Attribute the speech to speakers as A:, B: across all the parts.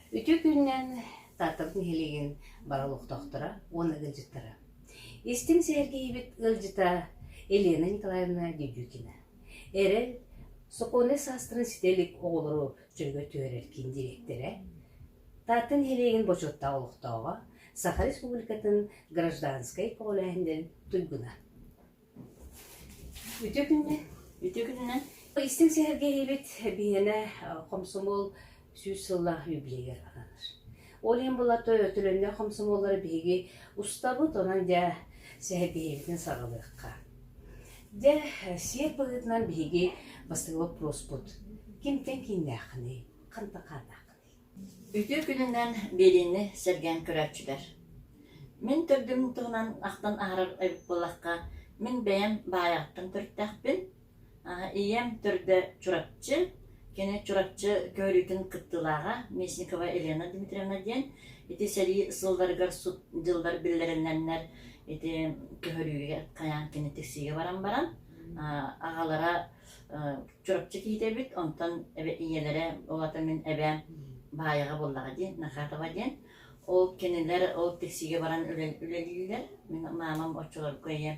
A: Үтүө күнүнэн Тааттабыт нэһилиэгин бары олохтоохторо уонна ыалдьыттара. Истиҥ сэргиһибит ыалдьыта Елена Николаевна Дедюкина. Эрэл сокуонай саастарын ситэлик оҕолору чөлгө түһэрэр киин дириэктэрэ Таатта нэһилиэгин бочуоттаах олохтооҕо, Саха Республикатын гражданскай көҕүлээһиннэрин туйгуна. Үтүө күннэ. Үтүө күнүнэн. Истиҥ сэһэргэһиибит биһиэнэ хомсомуол сүүс сылла юбилейыгар ананар. Ол иһин булата төлөннөх хомсомуоллары биһиги устабыт, онон дьэ сэһэргэһиибитин саҕалыахха. Дьэ, сиэр быһыытынан биһиги бастакы боппуруспут кимтэн кииннээххиний, хантан хаатааххыный? Үтүө күнүнэн биэриини сэргээн көрөөччүлэр! Мин төрдүм туһунан ахтан аһарар эбит буоллахха, мин бэйэм баайаҕыттан төрүттээхпин. ийэм төрдө Чурапчы, кини Чурапчы көөрүүтүн кыттыылааҕа Местникова Елена Дмитриевна диэн. Ити сэрии сылларыгар сут дьыллар биллэриллэннэр ити көһөрүүгэ хайаан кини тиксиигэ баран баран, аҕалара Чурапчы киитэбит, онтон эбэ- ийэлэрэ, ол атын мин эбээм Баайаҕа буоллаҕа дии, Нахатова диэн. Ол кинилэр ол таксига баран үлэ- үлэлииллэр. Мин маамам оччолорго ийэ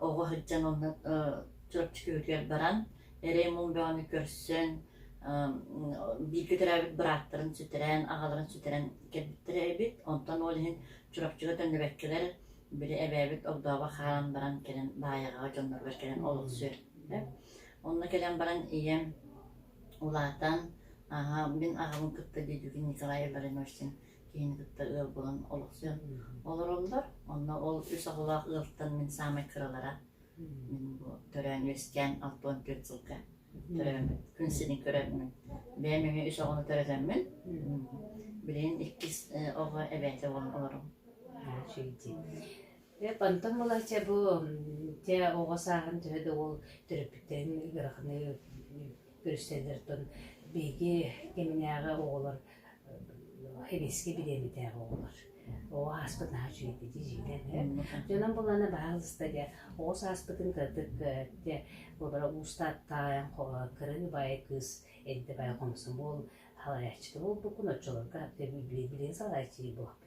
A: оҕо сылдьан онно э, Чурапчы күһүтүгэр баран, эрэй-муҥ бөҕөнү көрсөн, эм, бииргэ төрөөбүт бырааттарын сүтэрэн, аҕаларын сүтэрэн кэлбиттэрэ эбит. Онтон ол иһин Чурапчыга төннүбэккэлэр, били эбээбит огдообо хаалан баран кэлэн Баайаҕаҕа дьонноругар кэлэн олохсуйар. Онно кэлэн баран ийэм улаатан ааһа мин аҕабын кытта дойдубун Николай Оборонёрсин киһини кытта ыал булан олохсуйан олороллор. Онно ол үс оҕолоох ыалтан мин саамай кыралара мин бу төрөөн-үөскээн алта уон түөрт сылга төрөөммүн күн сирин көрөммүн бэйэм эмиэ үс оҕону төрөтөммүн билигин иккис э, оҕо эбээтэ буолан олором. Эп, онтон булача бу дьэ оҕо сааһын төһө да уол төрөппүттэрин ыараханнык көрүстэллэриттэн биһиги кэминээҕи оҕолор эбиэскэ бириэмэтээҕи оҕолор. Оҕо ааспыт наһаа үчүгэйдик дьиэлэр ээ. Дьонун булана баһаалыста дьэ оҕо сааспытын кыратык дьэ олоро уустаат таайан кырын убайа кыыс эрдэ бай хомсон буол салайааччыта буолбуккун оччолорго билигин салайааччы буолбуккун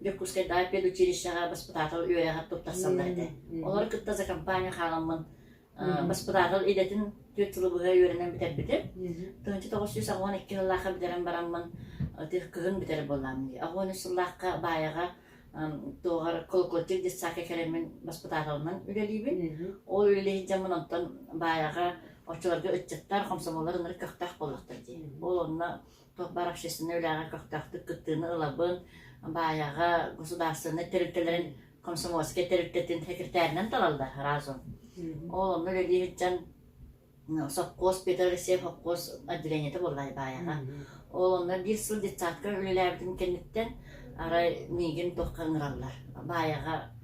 A: Дьокуускайдааҕы педучилищеҕа баспытаатал үөрэҕэр туттарсаллар этэ. Олору кытта за компания хааламмын баспытаатал идэтин түөрт сылы быһа үөрэнэн бүтэрбитим. Тыһынчы тоҕус сүүс аҕыон икки сыллаахха бүтэрэн бараммын кыһын бүтэрэр буоллаам дии. Аҕыон үс сыллаахха баайаҕа туоҕар колокольчик детсадка кэлэммин баспытааталынан үлэлиибин. Ол үлэлии сылдьаммын онтон баайаҕа оччолорго ыччаттар, комсомоллар ынырык көхтөөх буоллахтар дии. Ол онно туох баар общественнай үлэҕэ көхтөөхтүк кыттыыны ылабын. Баайаҕа государственнай тэрилтэлэрин комсомольскай тэрилтэтин секретаринан талаллар разом. Ол онно үлэлии сылдьан сопхуос Петр Алексеев сопхуос отделениета буолла Баайаҕа. Ол онно биир сыл детсадка үлэлээбитим кэнниттэн арай миигин туохха ыҥыраллар. Баайаҕа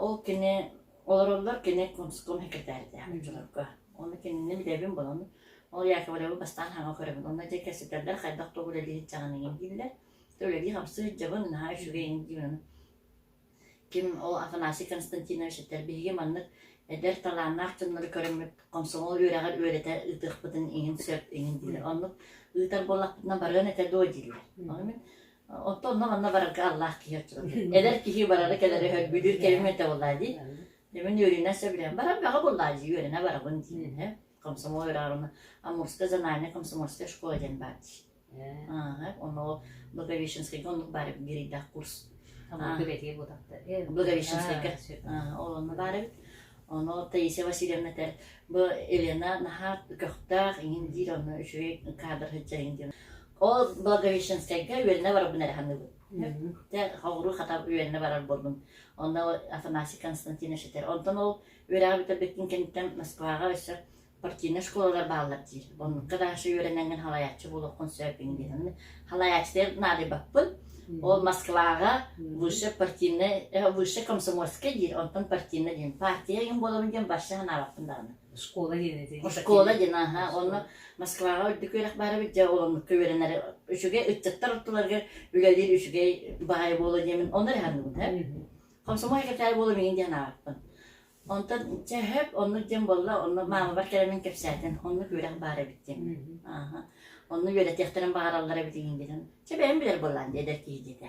A: Ол кини олороллор кини комсомол секретаритааҕа дьонорго. Ону кинини билэбин булан ол Яковлевы бастаан хаҥа көрөбүн. Онно дьэ кэпсэтэллэр хайдах тугу үлэлиир дьаҕан иҥин дииллэр. Үлэлии хамсыы сылдьабын наһаа үчүгэйин диибин ону. Ким ол Афанасий Константинович этэр биһиги маннык эдэр талааннаах дьоннору көрөммүт комсомол үөрэҕэр үөрэтэ ыытыахпытын иҥин сөп иҥин дииллэр. Оннук ыытар буоллахпытына барыан этэ дуо дииллэр. Ону мин Оттон онно манна барарга аллаах киһи оччотон. Эдэр киһи барара-кэлэрэ өһөр бүлүүр кэбим этэ буоллаа дии. Мен үөрэнэ сөбүлээн баран баҕа буоллаа дии үөрэнэ барабын диин комсомол ыраарына Амурская зональная комсомольская школа диэн баар дии. Аа, оно Благовещенскайга оннук бар гирейдах курс. Благовещенскай бутакта. Благовещенскайга. Онно бар эбит. Оно Таисия Васильевна тер бу Елена наха көхтах ингин диир онно үчүгэй кадр хыджа ингин. Ол Благовещенскайга үөрэнэ барарбын эрэ саныыбын. Дьэ, холобур хата үөрэнэ барар буоллум. Онно Афанасий Константинович этэр. Онтон ол үөрэҕи бүтэрбиккин кэнниттэн Москваҕа өссө партийнай школалар бааллар диир. Оннукка даҕаша үөрэнэҥҥин халайааччы буолуоххун сөппүҥ диэн. Халайааччытыгар наадыйбаппын. Ол Москваҕа высшая партийнай, высшая комсомольская диир, онтон партийнай диэн. Партия игин буоламын диэн барша санаабаппын даҕаны. Школа диэн этэ. Школа диэн, аха. Онно Москваҕа үрдүк үөрэх баара дьэ олоҥукка үөрэнэр үчүгэй ыччаттар ортолорго үлэлиир үчүгэй баайа буола диэмин онно эрэ хааныбын һэ. Комсомол секретарь буола миигин диэн ааҕыппын. Онтон дьэ хөп онну дьэн болла онно маамабар кэлэмин кэпсээтин оннук үөрэх баара эбит диэн. Аха. Онну үөрэтиэхтэрин баҕараллар эбит игин диэтин. Чэ бэйэм билэр боллаан диэдэр киһи диэтэ.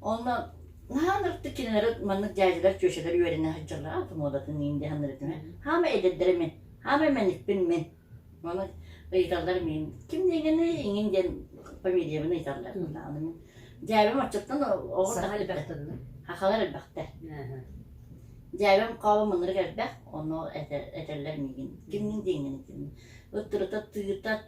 A: Онно наһаан ырдык кинилэр маннык дьээдьэлэр, түөсэлэр үөрэнэ сылдьаллар. Ата муодатын иин диэхэннэр этим. Хаама эдэрдэрэ мин. Хаама мэникпин мин. Ону ыйыталлар мин. Ким дегені иҥин диэн фамилиябын ыйталлар. Аны мин дьээбэм оччоттон оҕо таһа элбэхтэр. Хахалар элбэхтэр. Дьээбэм хаабым ынырык элбэх, ону этэллэр миигин. Кимнин диэҥнэн этим. Ыттырыта тыыта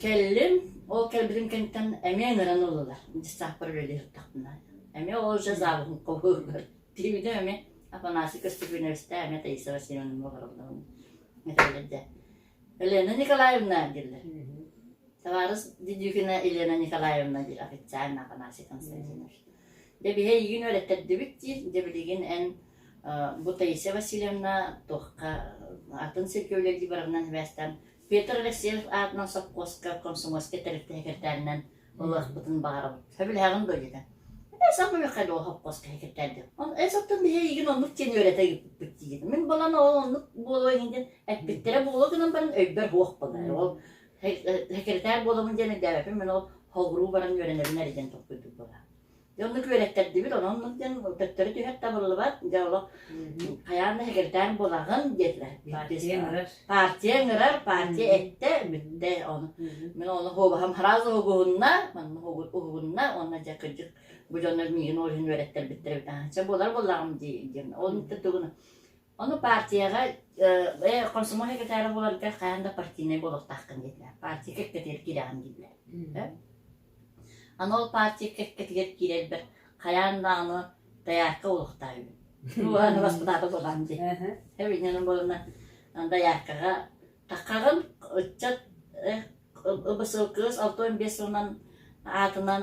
A: Кэллим, ол кэлбитин кэнниттэн эмиэ ыҥыран ыллылар. Дьыссааппар үлэлии сыттахпына. Эмиэ ол дьэ завуһун хоһугар тиийдэ эмиэ Афанасий Костюпиновичтаах эмиэ Таиса Васильевна олороллорун этэллэр дьэ. Елена Николаевна дииллэр. Табаарыс Дедюкина Елена Николаевна диир официально Афанасий Константинович. Дьэ биһи эйигин үөрэттэрдибит диир. Дьэ билигин эн э, бу Таиса Васильевна туохха атын сиргэ үлэлии барарынан сибээстээн Петр Алексеев аатынан сопхуоска комсомольскай тэрилтэ сэкиртээнинэн ылыахпытын баҕарабын. Сөбүлэһэҕин дуо диэтэ. Эсов миэхэ дуо сопхуоска сэкиртээрдэ. Эсоптан биһи эйигин оннук диэн үөрэтэ ыыппыппыт диэтэ. Мин балан ол оннук буолуо иһин диэн эппиттэрэ буолуо гынан баран өйбөр суох болар. Ол секретарь буоламын диэн өйдөөбөпүн мин ол холбуруу баран үөрэнэбин эрэ диэн толкуйдук буолар. Дьэ онно күөрэттэрдибит, онон диэн төттөрү түһэр табыллыбат. Дьэ олох хайаан да секретарь булаҕын диэтилэр. Партия ыҥырар. Партия ыҥырар, партия эттэ, бүттэ ону. Мин ону хообаһым сразу угуһунна, манна угуһунна, онно дьэ кырдьык бу дьоннор миигин ол иһин үөрэттэрбиттэр эбит. Чэ булар буллаҕым дии диэн. Ол да тугуна. Ону партияҕа э, комсомол секретара буоларга хаһан да партийнай буолуохтааххын диэтилэр. Партия кэккэтигэр киирэҕин дииллэр. Аны ол партия кэккэтигэр киирэрбэр хайаан даҕаны доярка олохтаа үһү. Уһаан баспытаата буолаан дии. Эбинньэнэн буолана дояркаҕа таккаҕын ыччат БСЛКС алты он бес сылынан аатынан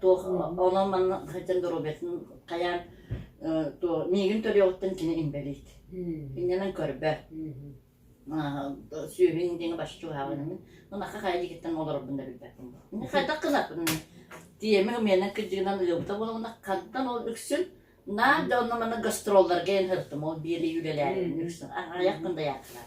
A: туох онон манна сылдьан доруобуйатын хайаан миигин төлүөҕүттэн кини инбэлиит иннэнэн көрбө сүөһүн диэҥэ бачча чугаһаабынамын манахха хайа дьигиттэн олорорбун да билбэппин хайдах гынаппын тиэмэ миэнэн кыдьыгынан ыалбыта буоламына хантан ол үксүн наар да онно манна гастролларга эн сырыттым ол биэлии үлэлээри үксүн аҕыйах күн да яатылар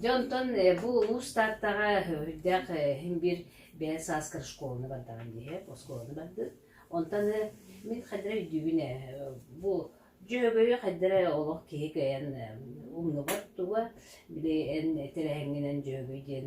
A: Дьэ онтон бу улуус Тааттаҕа үрдэх иһин биир бэйэ сааскар школаны бардаҕым дии, оскуоланы бардым. Онтон мин хайдара өйдүүбүн ээ, бу Дьөһөгөйү хайдара олох киһи кыайан умнубат туга, били эн тэрээһиҥҥинэн Дьөһөгөй диэн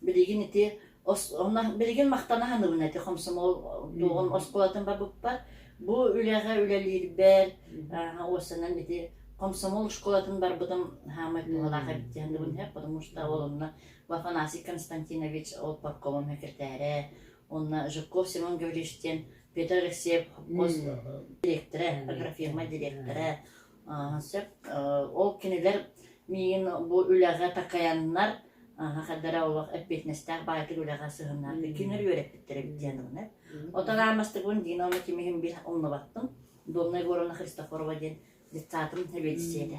A: Билигин ити онно билигин махтана ханыбын ити хомсомол туоҕун оскуолатын барбыппар бу үлэҕэ үлэлиирбэр уосанан ити комсомол школатын барбытым хаамай туһалаах эбит диһандыбын иһэ потому что ол онно Афанасий Константинович ол паркомом секретарэ онно Жирков Семен Гаврилович диэн Петр Алексеев хос директора агрофирма директора Ааһа сөп. Ол кинилэр миигин бу үлэҕэ такайаннар аһа хайдах эрэ олох эппиэтинэстээх баайтык үлэҕэ сыһыннаахтык кинилэр үөрэппиттэрэ эбит диэн ылына. Отаҕа аммастыбын Дина уонна ким иһин биир умнубаппын. Домна Егоровна Христофорова диэн детсаатын сэбиэдиссэйэтэ.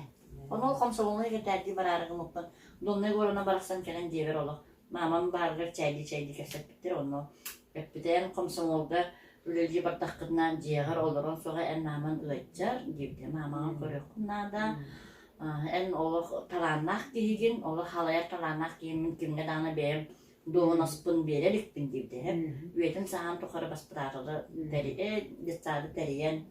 A: Ону ол хомсолуонуй кэтээрдии бараарыгымыппын Домна Егоровна барахсан кэлэн диэбэр олох Маамам баарыгар чайдыы-чайдыы кэпсэппиттэр, онно эппитэн комсомолга үлэлии бардаххытына дьиэҕэр олоруон сөҕө эн маамаҥ ыалдьар диэбитэ. Маамаҕын көрүөххүн наада. Аа, эн олох талааннаах киһигин, олох халайар талааннаах киһим мин кимҥэ даҕаны бэйэм дуоһунаспын биэрэ иликпин диэбитэ. Мгм. Үйэтин сааһын тухары баспытааталы тэрийэ, детсады тэрийэн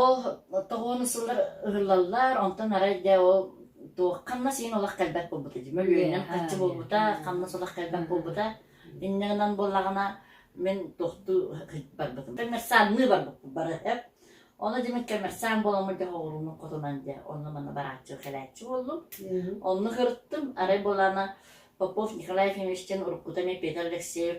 A: Ол тоҕуону сыллар ыһыллаллар, онтон арай дьэ ол туох ханнас иһин олох кэлбэт буолбута дьэ. Мөлүйүөнүм Үөһэ, хаччы буолбута, үөһэ. ханнас олох кэлбэт Мгм. буолбута. Инньэ гынан буоллаҕына, мин туохтуу барбытым. Коммерциальныы барбыппын бары эп. Ону дьэ мин коммерциаль буоламмын дьэ оҕуруунум хотунан дьэ онно-манна барааччы кэлээччи буоллум. Мгм. Онно кырыттым. Арай буолаана Попов Николай Ефимович диэн уруккута эмиэ Петр Алексеев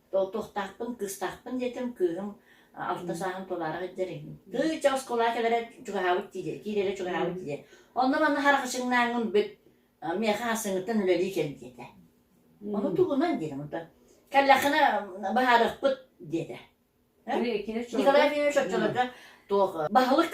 A: Толтуохтаахпын, кыыстаахпын диэтим, кыыһым алта сааһын тулаара илдьэр иһин. Кыыча оскуола кэлэрэ чугаһаабыт дии, киирэрэ чугаһаабыт дии. Онно манна харахачыҥнааҥҥын бүт, миэхэ хасыҥыттан үлэлии кэл диэтэ. Ону тугунан диэтим онтон. Кэллэххинэ быһаарыахпыт диэтэ. Николай Ефимович оччолорго туох баһылык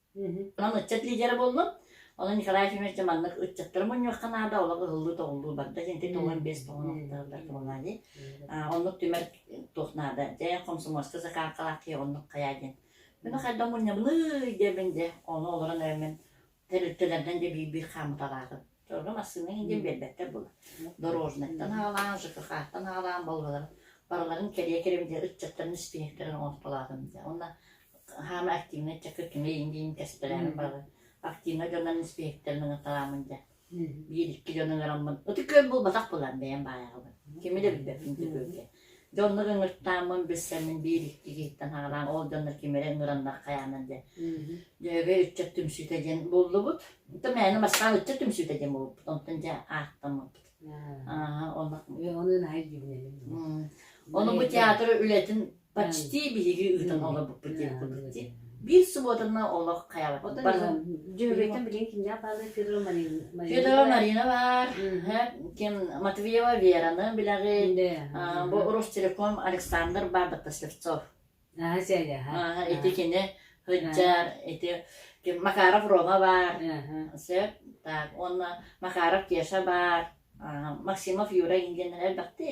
A: Онон ыччат лидера буоллум. Онон Николай Ефимович дьэ маннык ыччаттары мунньуохха наада, олох ыһыллыы-тоҕуллуу барда. Дьэ ити тоҕуон биэс тоҕуон охтооллор кымалаайы. Оннук түмэр туох наада. Дьэ хомсомуоска закаалкалаах киһи оннук хайаа диэн. Мин хайдах мунньабыный диэбин дьэ, ону олорон эрэммин тэрилтэлэрдэн дьэ биир-биир хаамыталаатым. Дьону массыына иһин биэрбэттэр буолар. Дорожнайтан аҕалаан, ЖКХ-тан аҕалаан Волгаларын барыларын кэрийэ кэрэбин диэн ыччаттарын испиэһэктэрин оҥортолоотум дии. Уонна хаама активнай ыччакка түҥэйиҥ диин кэспэлээмин барылын активнай дьоннорун испиэһэктэрин ыҥырталаамын диэн. Биир-икки дьон ыҥыраммын ытык күөл булбатах буолар бэйэм баайаҕабын. Кими да билбэппин ытык күөлгэ. Дьэ оннук ыҥыртааммын билсэммин биир иккиһиттэн хаалаан ол дьоннор ким эрэ ыҥыраннар хайаанан диэн дьөһөгөй ыччат түмсүүтэ диэн буллубут. Онтон мээнэ Москва ыччат түмсүүтэ диэн булбут. Онтон дьэ ааттаммыппыт. Ааһа оннук. Онуун аайы дьиҥнэним. М. Ону бу театр үлэтин почти биһиги ыытан олорбуппут диэн курдук дии. Биир субуотаны олох хайаабыттарын Дьүһүгүттэн билигин кимнээх баалар Федора Марина Федора Марина баар ким Матвеева Вераны билэҕит бу Ростелеком Александр Бабыттас Слевцов аха сэрэ аха ити кини Хыджар ити Макаров Рома бар сөп так уонна Макаров Кеша бар Максимов Юра ингеннэр элбэхти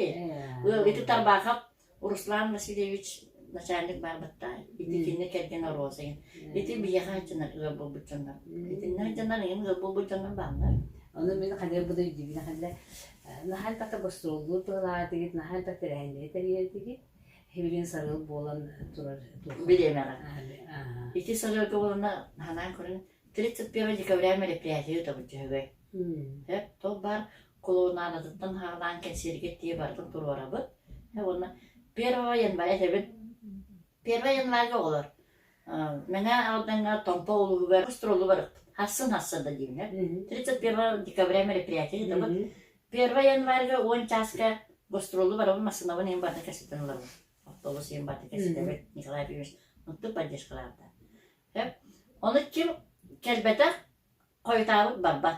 A: ити Тарбахов Руслан Васильевич начальник баарбыттаа, ити кинини кэргэн Розайын. Ити биһиэхэ сылдьанар ыал буолбут дьоннор. Итиннэ сылдьанар эҥин ыал буолбут дьоннор бааллар. Ону мин ханыы буду өйдүүбүн ханна наһаа элбэхтэ гастроллуур туһалаатыгыт, наһаа элбэхтэ эрэһиллэри тэрийэрдигит. Хибилин сарыл буолан турар Билиэмэҕэ. Ити сарыалга боланна ханаан көрүн 31 декабря мероприятие өтөбүт түһүгэй. Эт, тол бар Кулунаанатыттан хаардаан кэнсиэригэр тиийэ барытын туруорабыт. Уонна первого января этэбит. Первого январга оҕолор Мэҥэ Алдаҥҥа Томпо улууһугар гастролу барыппыт. Харсын-харсын да дииллэр. 31 декабря мероприятие ытабыт. Первого январга уон чааска гастролу барабын, массыынабын ийэм барда кэситин ылабын. Автобус ийэм барда кэситэбит. Николай Ефимович ынтык поддержкалаабыта. Ону ким кэлбэтэх, хойутаабыт барбат.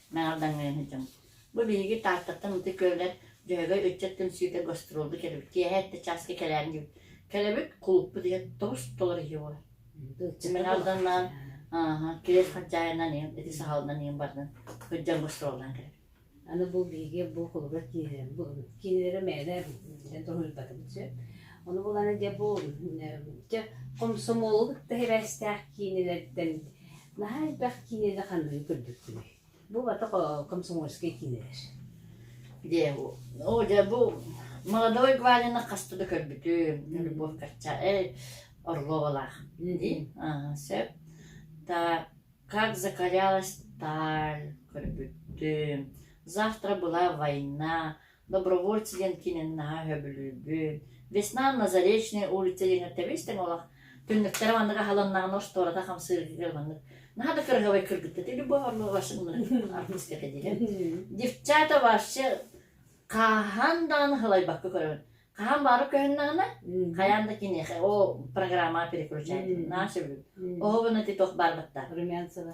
A: Наар даҥыаһы дьон. Бу биһиги Тааттаттан ытык күөллэр Дьөһөгөй ыччат түмсүүтэ гастролга кэлэбит. Киэһэ эрдэ чааска кэлээри диэбит. Кэлэбит, кулуппут ийэ тоҕус доллар ийэ буолар. Мен Алданнаан ааһа, кириэс хачаайынан ийэм, ити сахалынан ийэм бардын. Ыччат гастроллаан кэлэбит. Аны бу биһиги бу холобура киинэлэр бу киинэлэрэ мээнэ эн тоһуйбатыбыт сөп. Ону булана дьэ бу чэ комсомоллук да хебээстээх киинэлэртэн Наһаа элбэх киинэни ханныгы көрбүккүнүй? Бу убатык комсомольскай киинэлэр. Дьэ, оо дьэ бу молодой Гвалины хаста да көрбүтүм. Любовь Кача, э, Орловалаах. И, а, сөп. Та как закалялась таль көрбүттүм. Завтра была война. Добровольцы диэн киинин наһаа сөбүлүүрбүн. Весна на Заречной улице диэн ирдэбил-истэҥ олох. Түннүктэрэ маннык аһылыннаҕына устуората хамсыыргыгар маннык. Наһаа да кыраһабай кыргыттыты любовь орловашын артыскка диэн. Девчата вообще хаһан даҕаны сылайбакка көрөбүн. Хаһан баары көһүннэҕинэ, хайаан да киниэхэ ол программа переключаетын. Наша бүл. Оһо гына ти туох барбатта. Румянцева.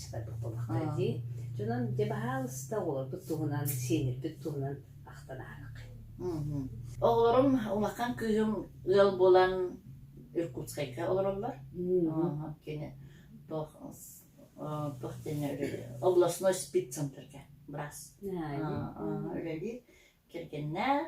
A: буолахтар дии дьонон дьэ баһаалыста оҕолорбут туһунан сиэннэрбит туһунан ахтан аһараххын оҕолорум умакан кыыһым ыал булан Иркутскайга олороллор кини областной спеццентрге брас үлэлиир кэргэннээх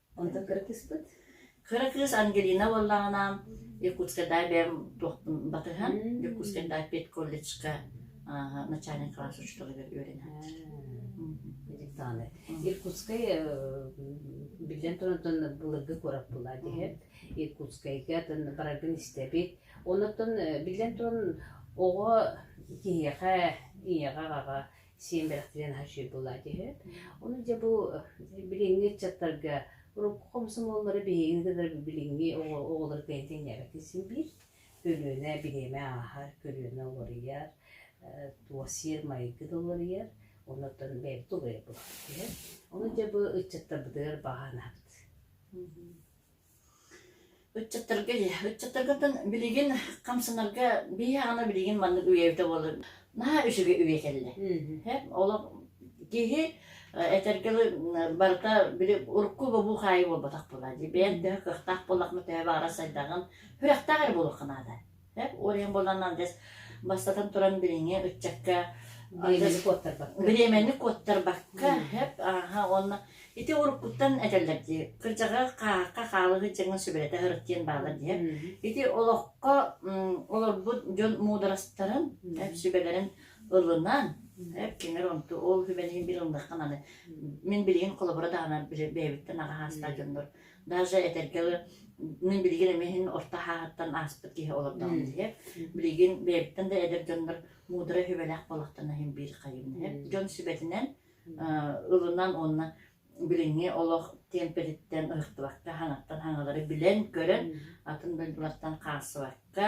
A: Онто кыргыспыт. Кыра кыыс Ангелина буоллаҕынаан Якутскайдаа бэйэм туохпун батыһан Якутскайдаа педколледжка ааһа начальник класс учууталыгар үөрэнээччи. Диктааны. Иркутскай биллэн турантан былыргы куорат булаат иһэ Иркутскайга бараргын истэбит. Оннуктан биллэн туран оҕо киһиэхэ ийэҕэ аҕаҕа сиэн бэрэхтириэн хашир булаат үһү. Ону дьэ бу билиҥҥи ыччаттарга урукку хомсомуоллары биһиги кытары билиҥҥи оҕолору бэйэтин ньээбэккэ син биир көлүөнэ бириэмэ ааһар, көлүөнэ уларыйар, туосиер майгы да уларыйар, оннуттан бэйэбит уларыйар буолбут үһү. Ону дьэ бу ыччаттарбытыгар баҕанаһабыт. Ыччаттарга ыччаттаргыттан билигин хамсанарга биһиэхэ билигин маннык үйэбитэ буолар наһаа үчүгэй үйэ кэллэ. Олох киһи этэргэ дылы барыта били урукку бобуу хаайыы буолбатах буолаа дии. Бэйэҥ төһө кыахтаах буоллаххына төһө баҕарар сайдаҕын, сүрэхтээх эрэ буолуохха наада. уойан буолан андыс бастатан туран билиҥҥи ыччакка бириэмэни куоттарбакка хэп ааха уонна ити уруккуттан этэллэр дии кырдьаҕа хаахха хаалыгы дьаҥын сүбэлэтэ ырыттиэн баалар дии ити олоххо олорбут дьон муударастарын сүбэлэрин ылынан эп киңэр онту ол хүбэниһин бил ылдаххан аны мин билигин холобура даанар бэйэбиттэн аҕа хаастаах дьоннор даже этэргэ билигин эмиэ иһин орто хааһыттан ааспыт киһи олордоҕум диһэ билигин бэйэбиттэн да эдэр дьоннор муудара үһүбэлээх буолахтана иһин биир хайым диһэ дьон сүбэтинэн ылынан уонна билиҥҥи олох темпетиттэн ыһыктыбакка хаҥаттан хаҥалары билэн көрөн атын дойдулартан хаалсыбакка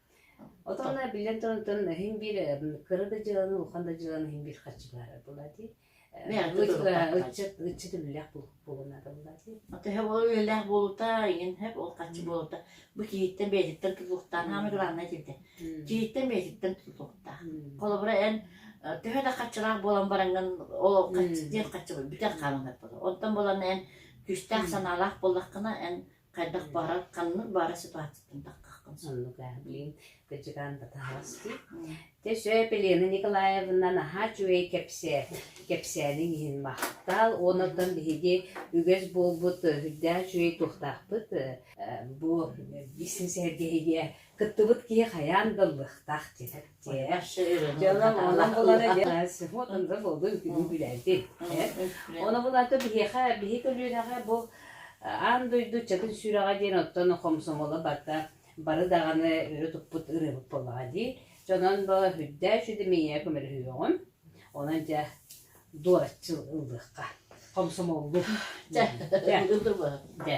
A: Отонна биллэн туран тон иһин биир э, кыра да дьыаланы улахан да дьыаланы иһин биир харчылаһара була дии. Э, Мээхэ ыччат ыччат ыччат үлэлээх булунара була дии. Ото һэ ол үлэлээх буолута иҥин һэп ол харчы буолута бу киһиттэн бэйэтиттэн тутулуктаан аама главное тилде киһиттэн бэйэтиттэн тутулуктаах холобура эн төһө да хаччылаах буолан бараҥҥын ол диэн хаччы бүтэх хааланар боло онтон болан эн күстээх санаалаах боллаххына эн хайдах баара ханнык баара ситуацияттан таххаххын сөп. Ну-ка, блин, кыдьыкаан да таһаҕасты. Те сөп Елена Николаевна наһаа үчүгэй кэпсэт. Кэпсээниҥ иһин махтал. Онуттан биһиги үгэс буолбут үрдээх үчүгэй туохтаахпыт. Бу бизнес-эргэһигэ Кыттыбыт киһи хайаан да ыллыахтаах диэтэр. Дьонум булара дьэ сыһыот анда болдун күнү күлээти. Оны булата биһиэхэ биһи көлүөнэҕэ бу аан дойду чатын сүрэҕэ диэн оттон хомсомоло барда бары даҕаны өрө туппут ырыабыт боллаҕа дии. Дьонон бо хүддээч үдэмийэ көмөлөһүөҕүн. Онон дьэ дуораччы ыллыахха. Хомсомоллук. Дьэ. Дьэ.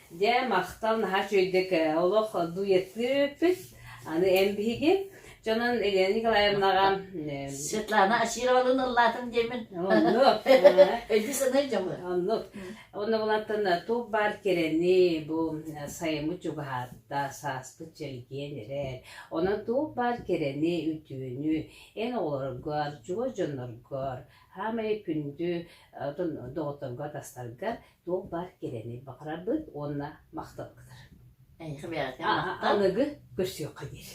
A: Дьэ, махтал наһаа үчүгэйдик олох дуйатыыппыт. Аны эн биһиги дьонун Елена Николаевнаҕа Светлана Очировалыны ыллаатын диэмин. Оннук. Өйдүү санай дьоҥы. Оннук. Онно булантан туох баар кэрэни бу сайымы чугаһаатта сааспыт чэлгиэн эрэ. Онон туох баар кэрэни, үтүөнү эн оҕолоргор, чугас дьонноргор, хаамай күндү доҕотторгор, тастаргар туох баар кэрэни баҕарарбыт уонна махталбытыр. Эйиэхэ бэйэҕитин махтал. Аныгы көрсүөххэ диир.